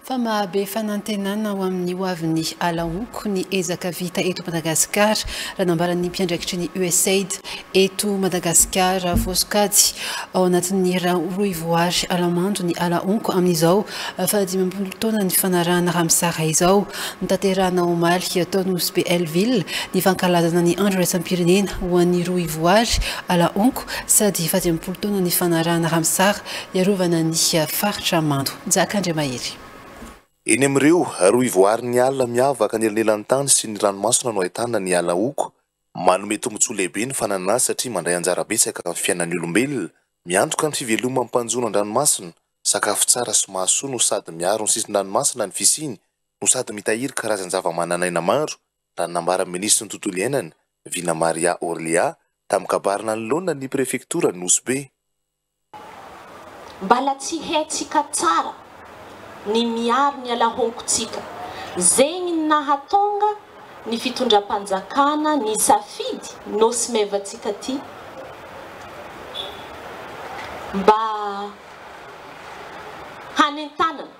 fa mahabe fanantenana ho amin'ny hoavin'ny ala honko ny ezaka vita eto Madagasikara, raha nambaran'ny mpiandraikitry ny Usaid eto Madagasikara vao sokajy ao anatin'ny rohivoary Alamando ny ala honko amin'izao fahadimampolo taona nifanarahana Ramsar izao. Notanterahina omaly tao Nosy-Be Hellville ny fankalazana ny andro iraisam-pirenena ho an'ny rohivoary ala honko sady fahadimampolo taona nifanarahana Ramsar Hiarovana ny faritra mando. Jaka Andriamahery. Eny amin'ireo rohy voarin'ny ala miavaka ny elanelantany sy ny ranomasina no ahitana ny ala hoko. Manome tombontsoa lehibe ny fananana azy satria mandray anjara betsaka amin'ny fiainan'ny olombelona, miantoka ny fiveloman'ny mpanjono an-dranomasina, sakafo tsara sy mahasoa no sady miaro ny sisin-dranomasina ny fisiany no sady mitahiry karazan-javamananaina maro, raha ny nambaran'ny minisitry ny Tontolo iainana, Vina Maria Orlia, tamin'ny kabary nanoloana ny prefektora Nosy Be. Mbala tsy haintsika tsara ny miaro ny alahonkontsika, zegny ny nahatonga ny fitondram-panjakana nisafidy Nosy Maivantsika ty mba hanentanana.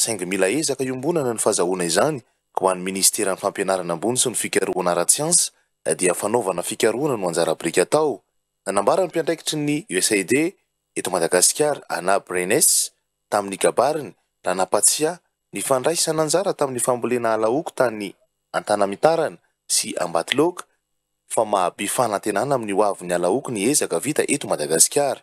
saingy mila ezaka iombonana ny fazahoana izany, ka ho an'ny Minisiteran'ny Fampianarana ambony sy ny Fikarohana ara-tsiansa dia fanaovana fikarohana no anjara biriky atao. Nanambara ny mpiandraikitry ny USAID eto Madagasikara, Anna Brenes, tamin'ny kabariny, raha nampatsiahy ny fandraisana anjara tamin'ny fambolena alaoky tany Antanamitarana sy Ambatoloaka, fa mahabe fanantenana amin'ny hoavin'ny alaoky ny ezaka vita eto Madagasikara.